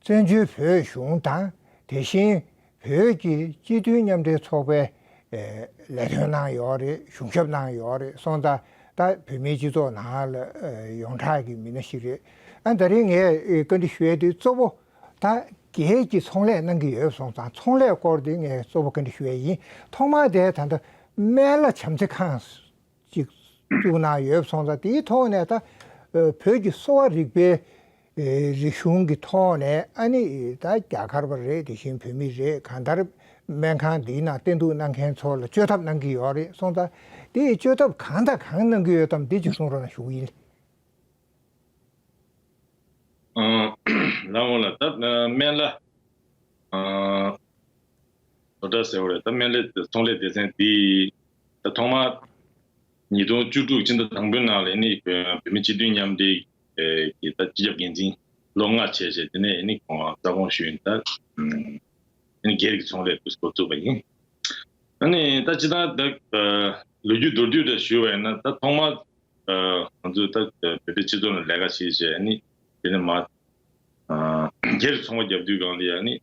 བཙན་བྱོལ་བོད་གཞུང་དང་དེ་བཞིན་བོད་ཀྱི་སྤྱི་མཐུན་མཉམ་འབྲེལ་ཚོགས་པའི་ལས་དོན་གནང་ཡོད་རེད་གཞུང་ཞབས་གནང་ཡོད་རེད་སོང་ད་ལྟ་བོད་མིའི་སྤྱི་ཚོགས་ནང་ལ་ཡོངས་གྲགས་ཀྱི་མི་སྣ་ཞིག་རེད་ཨ་ད་རིང་ངས་བཀའ་འདྲི་ཞུས་དེ་གཙོ་བོ་ད་རྒྱལ་གྱི་ཚོང་ལས་གནང་གི་ཡོད་སོང་ཙང་ཚོང་ལས་སྐོར་དེ་ངས་གཙོ་བོ་བཀའ་འདྲི་ཞུ་ཡས་ཡིན་ཐོག་མར་དེ་ད་ལྟ་སྨན་བླ་བྱམས་བརྩེ་ཁང་ཅིག་བཙུགས་གནང་ཡོད་སོང་ཙང་དེའི་ཐོག་ནས་ད་བོད་ཀྱི་གསོ་བ་རིག་པའི་རིག་གཞུང་གི་ཐོག་ནས་ཨ་ནི་ད་རྒྱ་གར་བ་རེད་དེ་བཞིན་བོད་མི་རེད་གང་ལྟར་སྨན་ཁང་འདིའི་ནང་བསྟེན་གཏུགས་གནང་མཁན་ཚོ་ལ་བཅོས་ཐབས་གནང་གི་ཡོད་རེད་སོང་ཙང་དེའི་བཅོས་ཐབས་གང་དང་གང་གནང་གི་ཡོད་དམ་དེ་གཅིག་གསུང་རོགས་གནང་ཞུ་ཡིན། ལ་འོང་ལ་ད་སྨན་བླ། ཟོ་དྲ་ཟེར་བ་རེད་ད་སྨན་བླའི་ཚོང་ལས་སྡེ་ཚན་འདིས་ད་ཐོག་མར་ཉིས་སྟོང་བཅུ་དྲུག་ཕྱི་ཟླ་དང་པོའི་ནང་ལ་ཡེནས་བོད་ཡང་བོད་མི་སྤྱི་མཐུན་མཉམ་འབྲེལ་གྱི་ད་སྤྱི་ཁྱབ་འགན་འཛིན་ལོ་ལྔ་བྱས་བྱས་དེ་ནས་ཡེནས་ཁོང་རང་རྩ་དགོངས་ཞུས་ཡིན་ད་ཡེནས་སྒེར་གྱི་ཚོང་ལས་བུ་སྐོར་བཙུགས་པ་ཡིན། ད་ནི་ད་སྤྱི་ཐང་ད་ལོ་རྒྱུས་མདོར་བསྡུས་འདྲ་ཞུས་བ་ཡིན་ན་ད་ཐོག་མར་ང་ཚོས་ད་བོད་པའི་སྤྱི་ཚོགས་ནང་ལས་ཀ་བྱས་བྱས་ཡེནས་དེ་ནས་མ་སྒེར་གྱི་ཚོང་པ་རྒྱབ་དུས་སྒང་དེ་ཡང་ཡེནས་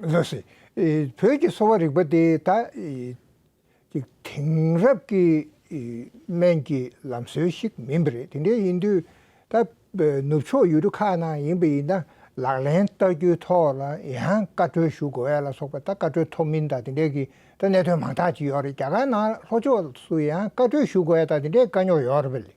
བཟོ་སྲིད། བོད་ཀྱི་གསོ་བ་རིག་པ་དེ་ད་དེང་རབས་ཀྱི་སྨན་གྱི་ལམ་སྲོལ་ཞིག་མིན་པ་རེད། དེ་འདྲ་ཡིན་དུས་ད་ནུབ་ཕྱོགས་ཡུལ་གྲུ་ཁག་ནང་ཡིན་པ་ཡིན་ན་ལག་ལེན་བསྟར་རྒྱུའི་ཐོག་ལ་ཡང་བཀའ་འཁྲོལ་ཞུ་དགོས་ལ་སོགས་པ་ད་བཀའ་འཁྲོལ་ཐོབ་མིན་དང་དེ་འདྲའི་གི་ད་གནད་དོན་མང་དག་ཅིག་ཡོད་རེད་རྒྱ་གར་ནང་ལྷོ་ཕྱོགས་སུ་ཡང་བཀའ་འཁྲོལ་ཞུ་དགོས་དང་དེ་འདྲའི་དཀའ་རྙོག་ཡོད་རེད་པ་ལས།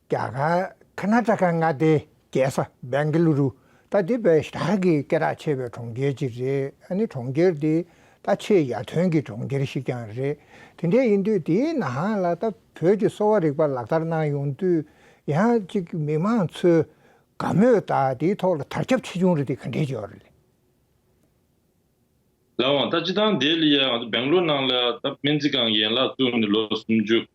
རྒྱ་གར་ཁ་ན་ཏྲ་ཀ་མངའ་སྡེའི་རྒྱལ་ས Bengaluru ད་ལྟའི་བལ་ཡུལ་དག་གི་སྐད་གྲགས་ཆེ་བའི་གྲོང་ཁྱེར་ཅིག་རེད་ཨ་ནི་གྲོང་ཁྱེར་འདི་ད་ཆེས་ཡར་ཐོན་གྱི་གྲོང་ཁྱེར་ཞིག་ཀྱང་རེད་དེ་འདྲའི་ཡིན་དུས་དེའི་ནང་ལ་ད་བོད་ཀྱི་གསོ་བ་རིག་པ་ལག་བསྟར་གནང་ཡོང་དུས་ཡང་ཅིག་མི་མང་ཚོས་དགའ་མོས་ད་དེའི་ཐོག་ལ་དར་ཁྱབ་ཆེ་ཆུང་རེ་དེ་ག་འདྲའི་འཇོག་རེད། ལའང་ད་སྤྱི་དང་སྡེ་ལ་ཡང་ད Bengaluru ནང་ལ་ད་སྨན་རྩིས་ཁང་ཡན་ལག་བཙུགས་ནས་ལོ་སུམ་ཅུ་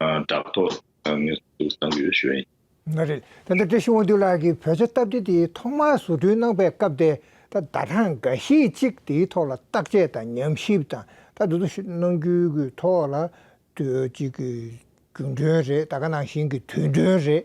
བྲག་ཐོག་ཚང་ངེ་གཟུགས་བཟང་ཡོད་ཞུ་ཡིན། ང་རེད་ད་ལྟ་བཀྲ་ཤིས་དབང་འདུས་ལགས་ཀྱིས་བོད་ཆ་སྟབས་བདེ་དེ་ཐོག་མར་བཟོ་སྐྲུན་གནང་པའི་སྐབས་དེ་ད་ཟླ་གྲངས་འགའ་ཤས་ཅིག་དེའི་ཐོག་ལ་བརྟག་དཔྱད་དང་ཉམས་ཞིབ་དང་ད་དུ་གནང་རྒྱུའི་ཐོག་ལ་དུས་ཅིག་གི་རྒྱུན་གྲོན་རེད་ད་ག་ནང་བཞིན་གྱི་དུས་གྲོན་རེད་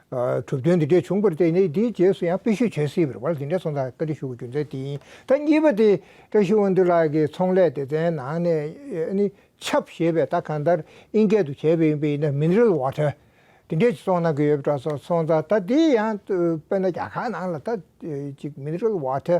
གྲུབ་དོན་འདི་འདྲས་བྱུང་བར་བརྟེན་ནས་དེའི་རྗེས་སུ་ཡང་དཔེ་བཤུས་བྱེད་སྲིད་པར་བར་འདི་འདྲའི་ཚོང་རྟགས་བཀའ་འདྲི་ཞུ་བའི་རྒྱུ་མཚན་དེ་ཡིན། ད་གཉིས་པ་དེ། བཀྲ་ཤིས་དབོན་སྟོད་ལགས་ཀྱིས་ཚོང་ལས་སྡེ་ཚན་ནང་ནས་ནི། ཆབ་ཞེས་པའི་རྟགས་གང་ལྟར་ཨིན་སྐད་དུ་བྱས་པ་ཡིན་པས་ཡིན་ན་མིན་རིལ་བ་འདྲ། དེ་འདྲས་ཀྱི་ཚོང་གནང་གི་ཡོད་པ་འདྲ་སོགས་ཚོང་རྟགས་ད་དེ་ཡང་དཔེར་ན་རྒྱ་གར་ནང་ལ་ད་ཅིག་མིན་རིལ་བ་འདྲ།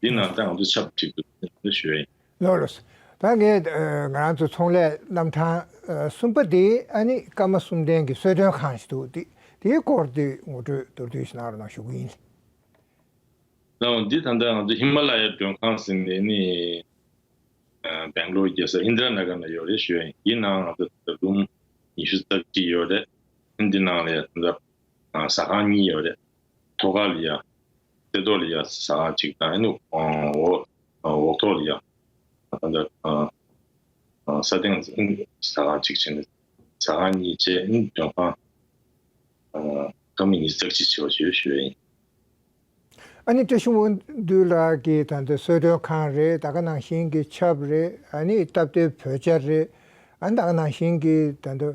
འདི་ནང་ད་ང་ཚོ་ཆབ་སྒྲིག་དུ་ང་ཚོ་ཞུ་ཡ་ཡིན། ལོ་ལོ། ད་ངས་ང་རང་ཚོ་ཚོང་ལས་རྣམ་གྲངས་གསུམ་པ་དེ་ཨ་ནི་སྐར་མ་གསུམ་ལྡན་གྱི་གསོལ་སྟོན་ཁང་ཞིག་འདུག་དེ་དེའི་སྐོར་དེ་ངོ་སྤྲོད་མདོར་བསྡུས་ཤིག་གནང་རོགས་གནང་ཞུ་གི་ཡིན། ལོ་ལོ། འདི་ད་ལྟ་ང་ཚོ་ཧི་མ་ལ་ཡའི་མགྲོན་ཁང་ཟེར་ནས་ནི་སྦེང་ལོར་རྒྱལ་ས་ཨིནྡྲ་ན་གྷར་ན་ཡོད་རེད་ཞུ་ཡ་ཡིན་འདི་ནང་ང་ཚོ་ད་ལྟ་རུམ་ཉི་ཤུ་རྩ་གཅིག་ཡོད་རེད། འདི་ནང་ལ་ཡང་ད་ལྟ་ཟ་ཁང་གཉིས་ཡོད་རེད། ཐོ་ཀ་ལི་ཡ། སེ་ཏོ་ལི་ཡ་ས་ཅིག་དང་ཨེ་ནུག་ཨོག་ཐོ་ལི་ཡ། ད་ལྟ་ས་སྟེང་ས་ཁང་གཅིག་བྱས་ནས་ས་ཁང་གཉིས་བཅས་ལྗོན་ཤང་ཁ་མི་གཉིས་ཙག་གཅིག་བྱས་པ་ཞེས་ཞུ་བས་ཡིན། ཨ་ནི་བཀྲ་ཤིས་དབང་འདུས་ལགས་ཀྱིས་ད་ལྟ་གསོལ་མགྲོན་ཁང་རེད་ད་ག་ནང་བཞིན་གྱི་ཆབ་རེད་ཨ་ནི་སྟབས་བདེ་བོད་ཆ་རེད་ཨ་ནི་ད་ག་ནང་བཞིན་གྱི་ད་ལྟ།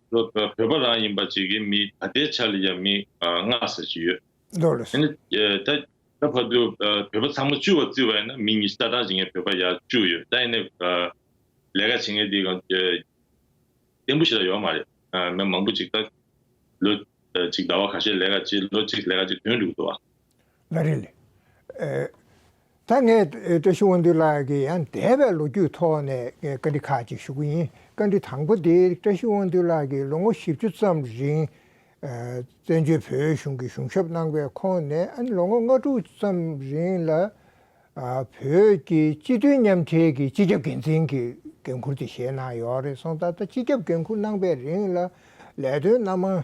བོད་པ་རང་ཡིན་པ་བྱེད་ཀྱི་མི་ད་ལྟའི་ཆར་ལ་ཡང་མི་ལྔ་ཟེར་གྱི་ཡོད། འདོད་ལ་སོང། ད་ད་བར་དུ་བོད་པ་ཚང་མ་བཅུ་བ་བརྩི་བ་ཡིན་ན་མི་ཉིས་བརྒྱ་གྲངས་བྱེད་མཁན་བོད་པ་ཡང་བཅུ་ཡོད་ད་ཡིན་ན་ལས་ཀ་བྱེད་མཁན་དེ་གང་བདེན་པོ་ཞིག་ལ་ཡོད་མ་རེད་མི་མང་པོ་ཅིག་ད་ལོ་ཅིག་ཟླ་བ་ག་ཤེད་ལས་ཀ་བྱེད་ལོ་གཅིག་ལས་ཀ་བྱེད་དོན་འགྲུབ་ཐུབ་བ། ལ་རེ་ལས། ད་ངས་བཀྲ་ཤིས་དབང་འདུས་ལགས་ཀྱི་ཡང་འདས་པའི་ལོ་རྒྱུས་ཐོག་ནས་བཀའ་འདྲི་ཁག་ཅིག་ཞུ་གི་ཡིན། བཀའ་འདྲི་དང་པོ་དེ་བཀྲ་ཤིས་དབང་འདུས་ལགས་ཀྱིས་ལོ་ངོ་བཞི་བཅུ་ཙམ་རིང། བཙན་བྱོལ་བོད་གཞུང་གི་གཞུང་ཞབས་གནང་པའི་ཁོངས་ནས་ཨ་ནི་ལོ་ངོ་ལྔ་དྲུག་ཙམ་རིང་ལ། བོད་ཀྱི་སྤྱི་མཐུན་མཉམ་འབྲེལ་གྱི་སྤྱི་ཁྱབ་འགན་འཛིན་གྱི་འགན་འཁུར་དེ་བཞེས་གནང་ཡོད་རེད་སོང་ད་ལྟ་སྤྱི་ཁྱབ་འགན་འཁུར་གནང་པའི་རིང་ལ་ལས་དོན་སྣ་མང་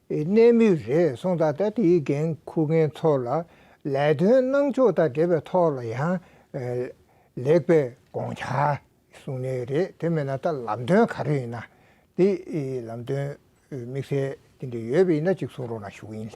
པའི་གནས་མིག་རེད་གསུངས་ད་ལྟ་དེའི་འགན་འཁུར་མཁན་ཚོ་ལ་ལས་དོན་གནང་ཕྱོགས་དང་འབྲེལ་བའི་ཐོག་ལ་ཡང་ལེགས་པའི་དགོངས་འཆར་གསུངས་ནི་རེད་དེ་མེད་ན་ད་ལམ་དོན་ག་རེ་ཡིན་ན་དེ་ལམ་དོན་དམིགས་བསལ་དེ་འདྲ་ཡོད་པ་ཡིན་ན་ཅིག་གསུང་རོགས་གནང་ཞུ་གི་ཡིན།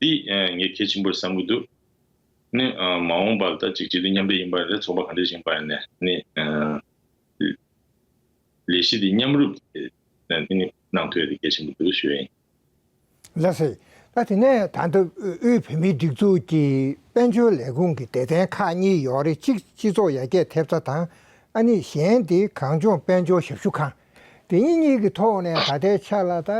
འདི་ངས་གལ་ཆེན་པོར་བསམ་གྱི་འདུག་ནི། མ་འོངས་པར་ད་ཅིག་བྱེད་དུས་མཉམ་འབྲེལ་ཡིན་པར་རེད་ཚོགས་པ་གང་འདྲས་ཞིག་བར་ནས་ནི། ལས་གཞི་འདི་མཉམ་རུབ་དེ་ནི་གནང་ཐོས་དེ་གལ་ཆེན་པོ་འདུག་ཞུ་ཡ་ཡིན། ལེགས་སོ། ད་དེ་ནས་ད་ལྟ་དབུས་བོད་མིའི་སྒྲིག་འཛུགས་ཀྱི་དཔལ་འབྱོར་ལས་ཁུངས་ཀྱི་སྡེ་ཚན་ཁག་གཉིས་ཡོད་རེད་གཅིག་སྤྱི་ཚོགས་ཡར་རྒྱས་ཐེབས་རྩ་དང། ཨ་ནི་གཞན་དེ་གངས་ལྗོངས་དཔལ་འབྱོར་ཞབས་ཞུ་ཁང། དེ་གཉིས་གཉིས་ཀྱི་ཐོག་ནས་ད་ལྟའི་ཆ་ལ་ད་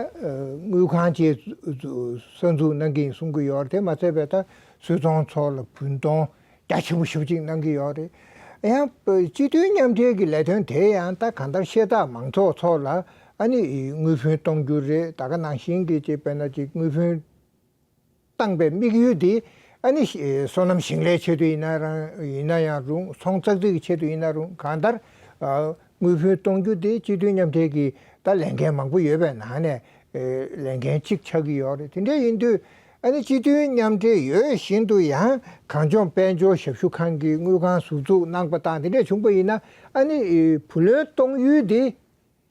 དངུལ་ཁང་བཅས་གསར་འཛུགས་གནང་གིན་གསུང་གི་ཡོད་རེད་དེ་མ་ཚད་པའི་ད་གསོལ་ཚང་ཚོགས་ལ་བུན་གཏོང་རྒྱ་ཆེན་པོ་ཞུ་ཅིག་གནང་གི་ཡོད་རེད། ཡང་སྤྱི་མཐུན་མཉམ་འབྲེལ་གྱི་ལས་དོན་དེ་ཡང་ད་གང་ལྟར་ཤེས་རྟགས་མང་ཚོགས་ཚོ་ལ་ཨ་ནི་དངུལ་བུན་གཏོང་རྒྱུ་རེད་ད་ག་ནང་བཞིན་གྱི་ཅེས་པས་ན་ཅིག་དངུལ་བུན། བཏང་པའི་དམིགས་ཡུལ་དེ་ཨ་ནི་སོ་ནམ་ཞིང་ལས་ཆེད་དུ་ཡིན་ན་ཡང་རུང་ཚོང་ཙག་ཙིག་གི་ཆེད་དུ་ཡིན་ན་རུང་གང་ལྟར། དངུལ་བུན་གཏོང་རྒྱུ་དེ་སྤྱི་མཐུན་མཉམ་འབྲེལ་གྱི་ད་ལས་འགན་མང་པོ་ཡོད་པའི་ནང་ནས་ལས་འགན་གཅིག་ཆགས་ཀྱི་ཡོད་རེད་དེ་འདྲ་ཡིན་དུས་ཨ་ནི་སྤྱི་མཐུན་མཉམ་འབྲེལ་ཡོད་བཞིན་དུ་ཡང་གངས་ལྗོངས་དཔལ་འབྱོར་ཞབས་ཞུ་ཁང་གི་དངུལ་ཁང་ཟུར་འཛུགས་གནང་པ་དང་དེ་འདྲ་བྱུང་པ་ཡིན་ན་ཨ་ནི་བུ་ལོན་གཏོང་ཡུལ་དེ་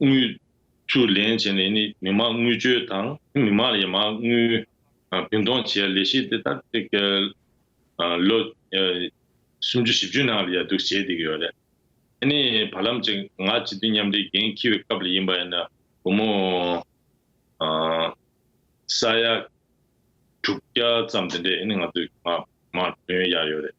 དངུལ། བཅུ་ལེན་བྱས་ནས་ནི་མི་དམངས་དངུལ་བཅོལ་དང་མི་དམངས་ལ་ཡང་མང་དངུལ་བུན་གཏོང་བྱེད་ལས་གཞི་འདི་ལྟར་ལོ། སུམ་ཅུ་བཞི་བཅུའི་ནང་ལ་ཡར་འདུག་བྱེད་བསྡད་ཀྱི་ཡོད་རེད། ཨ་ནི་བར་ལམ་ཅིག་ང་སྤྱི་མཐུན་མཉམ་འབྲེལ་འགན་འཁྱིལ་བའི་སྐབས་ལ་ཡིན་པ་ཡིན་ན་བུ་མོ། ས་ཡ། དྲུག་བརྒྱ་ཙམ་དེ་འདྲས་ཨ་ནི་ང་ཚོས་མང་དོན་ཡག་ཡོད་རེད།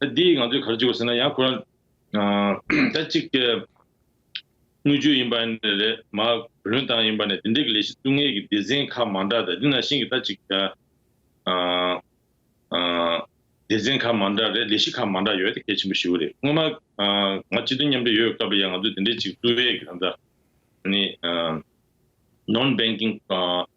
ད་འདི་ང་ཚོས་ག་རེ་བྱེད་དགོས་ཟེར་ན་ཡང་ཁོ་རང་ད་ཅིག་དེ་དངུལ་ཆུ་ཡིན་པ་རེད་མ་བུ་ལོན་ཏང་ཡིན་པ་ནས་དེ་འདྲས་ཀྱི་ལས་གཞི་བཙུགས་ངེས་ཀྱི་སྡེ་ཚན་ཁག་མང་དྲག་དེ་ནང་བཞིན་གྱི་ད་ཅིག་དེ་སྡེ་ཚན་ཁག་མང་དྲག་རེད་ལས་གཞི་ཁག་མང་དྲག་ཡོད་དེ་གལ་ཆེན་པོ་ཞེ་བོ་རེད་སྔོན་མ་ང་སྤྱི་མཐུན་མཉམ་འབྲེལ་ཡོད་སྐབས་ལ་ཡང་ང་ཚོས་དེ་འདྲས་ཅིག་བཙུགས་རེས་ཀྱི་དང་ད་ནི Non Banking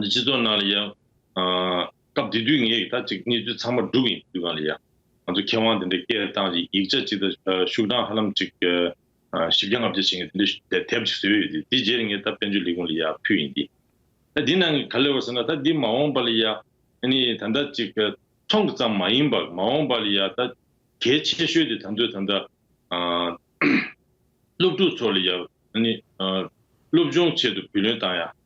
འདི་སྤྱི་ཚོགས་ནང་ལ་ཡང། སྐབས་དེ་དུས་ངས་ད་ཅིག་གནས་ཚུལ་ཚང་མ་སྒྲུབ་ཡིན་དུས་གང་ལ་ཡང། ང་ཚོ་མཁས་དབང་དེ་འདྲའི་སྐད་གདངས་ཀྱི་ཡིག་ཆ་ཅིག་དང་ཤུགས་གྲངས་ཧ་ལམ་ཅིག། བཞི་བརྒྱ་ལྔ་བརྒྱ་ཞེ་ངས་དེ་འདྲའི་དེབ་ཅིག་བཟོས་ཡོད་དེ་དེའི་རྗེས་ལ་ངས་ད་བཙན་བྱོལ་ལས་ཁུངས་ལ་ཡང་ཕུལ་ཡིན་ཏེ། ད་འདི་ནང་གི་ག་ལེ་བ་ཟེར་ན་ད་འདི་མ་འོངས་པ་ལ་ཡང། ནི་ད་ད་ཅིག་ཐོན་གི་ཙམ་མ་ཡིན་པར་མ་འོངས་པ་ལ་ཡང་ད། གལ་ཆེ་ཤོས་དེ་ད་ཚོད་ད། སློབ་ཕྲུག་ཚོ་ལ་ཡང། ནི། སློབ་སྦྱོང་ཆེད་དུ་བུ་ལོན་བཏང་ཡང།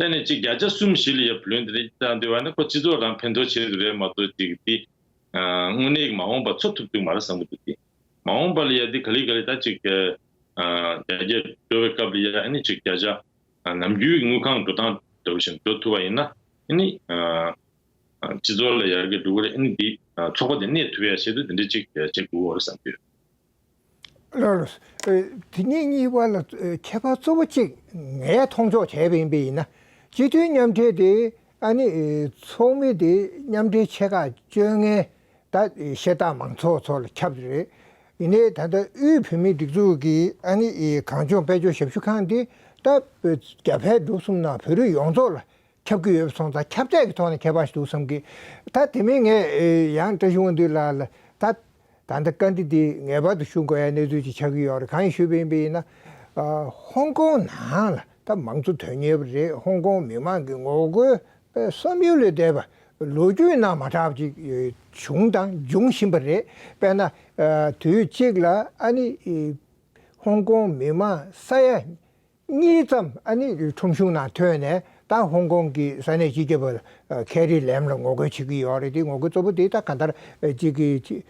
ལྷན་ནས་གཅིག་བརྒྱ་ཆ་གསུམ་བཞི་ལ་ཡར་བུད་ལོན་དེ་འདྲ་བྱེད་འདོད་པ་ནི་ཁོ་སྤྱི་ཚོགས་རང་ཕན་ཐོགས་བྱེད་རྒྱུ་རེད་མ་གཏོགས་ཅིག་དེ། དངོས་གནས་ཀྱི་མ་འོངས་པ་འཚོ་ཐུབ་ཐུབ་མ་རེད་བསམ་གྱི་འདུག་དེ། མ་འོངས་པ་ལ་ཡར་འདི་ག་ལི་ག་ལི་ད་གཅིག་བརྒྱ། བརྒྱ་བརྒྱ་འགྲོ་བའི་སྐབས་ལ་ཡར་ནི་གཅིག་བརྒྱ་ཆ། ནམ་རྒྱུན་གྱི་དངུལ་ཁང་འགྲོ་སྟངས་འདྲ་བོ་བཞིན་འགྲོ་ཐུབ་པ་ཡིན་ན། ནི། སྤྱི་ཚོགས་ལ་ཡར་གྱི་འགྲོ་གི་རེད་ནི་འདི་ཚོགས་པ་འདི་གནས་ཐུབ་ཡ་ཞེ་ཏུ་འདི་འདྲ་གཅིག་བྱེད་དགོས་རེད་བསམ་གྱི་ཡོད། ལོ། དེ་གཉིས་གཉིས་བར་ལ་ཁྱད་པར་གཙོ་བོ་གཅིག་ངས་མཐོང་ཆོག་བྱས་པ་ཡིན་པས་ཡིན། སྤྱི་མཐུན་མཉམ་འབྲེལ་དེ་ཨ་ནི་ཚོགས་མི་དེ་མཉམ་འབྲེལ་ཆེ་ཁག་བཅོ་ལྔའི་ད་བཤད་སྟངས་མང་ཚོགས་ཚོ་ལ་ཁྱབ་རེད། ཡིན་ནའི་ད་ལྟ་དབུས་བོད་མིའི་སྒྲིག་འཛུགས་ཀྱི་ཨ་ནི་གངས་ལྗོངས་དཔལ་འབྱོར་ཞབས་ཞུ་ཁང་དེ་ད་རྒྱ་བལ་འབྲུག་གསུམ་ནང་བོད་རིགས་ཡོངས་རྫོགས་ལ་ཁྱབ་ཀྱི་ཡོད་པ་སོང་ཙང་ཁྱབ་ཚད་ཀྱི་ཐོག་ནས་ཁྱད་པར་ཞིག་འདུག་བསམ་གི། ད་དེ་མིན་ངས་ཡང་བཀྲ་ཤིས་དབང་འདུས་ལགས་ལ་ད་ད་ལྟ་བཀའ་འདྲི་འདི་ངེས་པར་དུ་ཞུ་དགོས་ཡ་གནས་ཚུལ་ཅིག་ཆགས་ཀྱི་ཡོད་རེད་གང་ཡིན་ཞུས་པ་ཡིན་པ་ཡིན་ན། ཧོང་ཀོང་ནང་ལ་ད་མང་གཙོ་དོན་གཉེར་བ་རེད་ཧོང་ཀོང་མི་མང་གི་ངོ་རྒོལ་བསམ་ཡུལ་ལས་འདས་པ་ལོ་རྒྱུས་ནང་མ་གྲགས་ཅིག་བྱུང་དང་འབྱུང་བཞིན་པ་རེད་དཔེར་ན། དུས་གཅིག་ལ་ཨ་ནི་ཧོང་ཀོང་མི་མང་ས་ཡ་གཉིས་ཙམ་ཨ་ནི་ཁྲོམ་གཞུང་ནང་ཐོན་ནས་ད་ཧོང་ཀོང་གི་ས་གནས་སྤྱི་ཁྱབ་པར་ཁེ་རི་ལེམ་ལ་ངོ་རྒོལ་བྱེད་ཀྱི་ཡོད་རེད་དེ་ངོ་རྒོལ་གཙོ་བོ་དེ་ད་ག་དར་གཅིག་གི་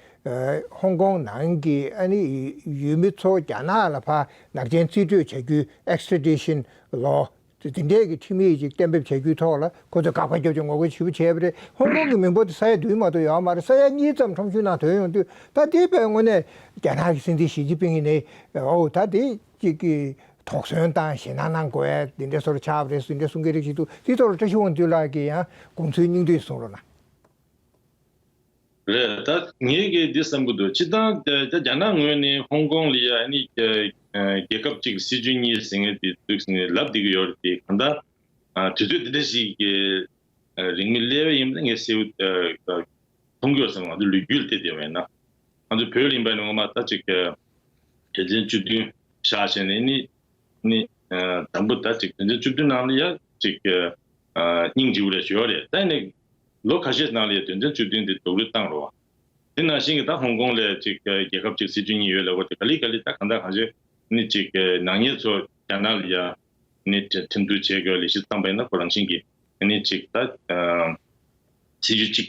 ཧོང་ཀོང་ནང་གི་ཨ་ནི་ཡུལ་མི་ཚོ་རྒྱ་ནག་ལ་ཕ་ནག་ཅན་རྩིས་སྤྲོད་བྱ་རྒྱུའི Extradition Law དེ་འདྲས་ཀྱི་ཁྲིམས་ཡིག་ཅིག་གཏན་འབེབས་བྱ་རྒྱུའི་ཐོག་ལ་ཁོ་ཚོས་དགག་པ་རྒྱབ་ཅིང་ངོ་རྒོལ་ཞི་བོ་བྱས་པ་རེད་ཧོང་ཀོང་གི་མི་འབོར་དེ་ས་ཡ་བདུན་མ་གཏོགས་ཡོད་མ་རེད་ས་ཡ་གཉིས་ཙམ་ཁྲོམ་གཞུང་ནང་ཐོན་ཡོང་དུས་ད་དེ་བས་དངོས་གནས་རྒྱ་ནག་གི་སྲིད་འཛིན་ཞི་ཅིན་ཕིང་ནི་ཨོའུ་ད་དེ་གཅིག་གིས་དོགས་ཟོན་དང་ཞེད་སྣང་གནང་དགོས་པས་འདི་འདྲའི་སོར་ཆགས་རེ་ཟུང་འདྲ་གསུང་གི་རིགས་ཤིག་འདུག་དེའི་ཐོག་ལ་བཀྲ་ཤིས་དབང་འདུས་ལགས་ཀྱིས་ཡང་དགོངས་ཚུལ་སྙིང་བསྡུས་གསུང་རོགས་གནང། རེད་ད། ངས་ཀྱི་འདི་བསམ་གྱི་འདུག་སྤྱིར་བཏང་རྒྱ་ནག་ངོས་ནས་ཧོང་ཀོང་ལི་ཡ་ནི་རྒྱལ་ཁབ་གཅིག་གི་སྲིད་བྱུས་གཉིས་ཟེར་ངེས་དེ་དུས་ནས་ལབ་བསྡད་ཀྱི་ཡོད་རེད་དེ། གང་ལྟར་དུས་ཚོད་འདི་འདྲ་ཞིག་གི་རིང་མི་གླལ་བས་ཡིན་པ་ནི་ངས་གསལ་བོ་མཐོང་གི་ཡོད་བསམ་ང་ཚོ་ལུས་རྒྱུད་ལ་བལྟས་བསྡད་པ་ཡིན་ན། ང་ཚོ་བོད་གླིང་བ་ནི་ངོ་མ་ད་ཅིག་དོན་ཚན་བཅུ་བདུན། བཞག་བྱས་ནས་ནི། ནི། དང་པོ་ད་ཅིག་དོན་ཚན་བཅུ་བདུན་ནང་ལ་ཡང་ཅིག། སྙིང་རྗེ་བོ་ལས་བྱོལ་བ་རེད་ད་ནི། ལོ་ཁ་ཤས་ནང་ལ་ཡང་དོན་ཚན་བཅུ་བདུན་དེ་རྡོག་རུལ་བཏང་རོགས། དེ་ནང་བཞིན་གྱི་ད་ཧོང་ཀོང་ལས་ཅིག་རྒྱལ་ཁབ་ཅིག་སྲིད་བྱུས་གཉིས་ཡོད་ལ་བོ་དེ་ག་ལི་ག་ལི་ད་གང་ད་གང་བྱས་ནི་ཅིག་ནག་ཉེས་ཚོ་རྒྱ་ནག་ལ་ཡང་ནི་ཁྲིམས་གཏུག་བྱེད་དགོས་ལས་གཞི་བརྩམས་པ་ཡིན་ན་ཁོ་རང་བཞིན་གྱིས་ནི་ཅིག་ད། སྲིད་བྱུས་གཅིག་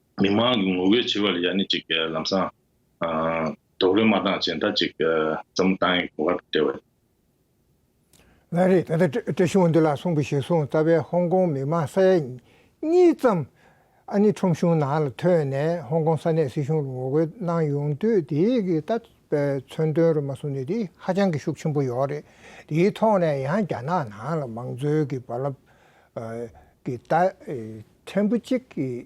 མི་དམངས་ཀྱི་ངོ་རྒོལ་བྱེད་པ་ལ་ཡང་ནི་ཅིག་ལམ་སང། རྡོག་རོལ་མ་བཏང་བྱས་མཐའ་ཅིག་ཙམ་བཏང་ཡིན་གོ་བར་བྲེལ་བ་ཡིན། ལན། རེད་ད་ལྟ་བཀྲ་ཤིས་འདི་ལ་སོང་གི་ཞེས་སོང་རྩ་བའི་ཧོང་ཀོང་མི་དམངས་ས་ཡ་གཉིས་ཙམ་ཨ་ནི་ཁྲོམ་གཞུང་ནང་ལ་ཐོན་ནས་ཧོང་ཀོང་ས་གནས་སྲིད་གཞུང་ལ་ངོ་རྒོལ་གནང་ཡོང་དུས་དེའི་གི་ལྟ་བའི་མཚོན་དོན་རུ་མ་སོང་ནི་དེ་ཧ་ཅང་གི་ཤུགས་ཆེན་པོ་ཡོད་རེད་དེའི་ཐོག་ནས་ཡང་རྒྱ་ནག་ནང་ལ་མང་གཙོའི་གི་རྦ་རླབས་གི་ལྟ་ཕྲན་བུ་གཅིག་གིས་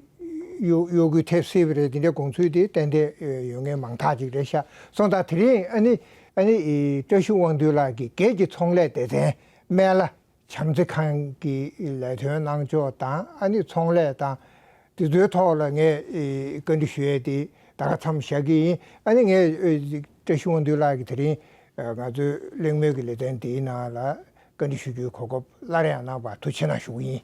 གཡོ་སྒུལ་ཐེབས་སྲིད་པ་རེད་འདི་འདྲའི་དགོངས་ཚུལ་དེ་གཏན་གཏན་ཡོད་ངེས་མང་དག་ཅིག་རེད་ཤ་སོང་ད་དེ་རིང་ཨ་ནི་བཀྲ་ཤིས་དབང་འདུས་ལགས་ཀྱིས་སྒེར་གྱི་ཚོང་ལས་སྡེ་ཚན་སྨན་བླ་བྱམས་བརྩེ་ཁང་གི་ལས་དོན་གནང་ཕྱོགས་དང་ཨ་ནི་ཚོང་ལས་དང་དེ་ཚོའི་ཐོག་ལ་ངས་བཀའ་འདྲི་ཞུ་ཡས་དེ་ད་ག་ཚམ་བཞག་གི་ཡིན་ཨ་ནི་ངས་བཀྲ་ཤིས་དབང་འདུས་ལགས་ཀྱིས་དེ་རིང་ང་ཚོའི་གླེང་མོལ་གྱི་ལས་དོན་དེའི་ནང་ལ་བཀའ་འདྲི་ཞུ་རྒྱུའི་གོ་སྐབས་སླར་ཡང་གནང་བར་ཐུགས་ཆེ་གནང་ཞུ་གི་ཡིན།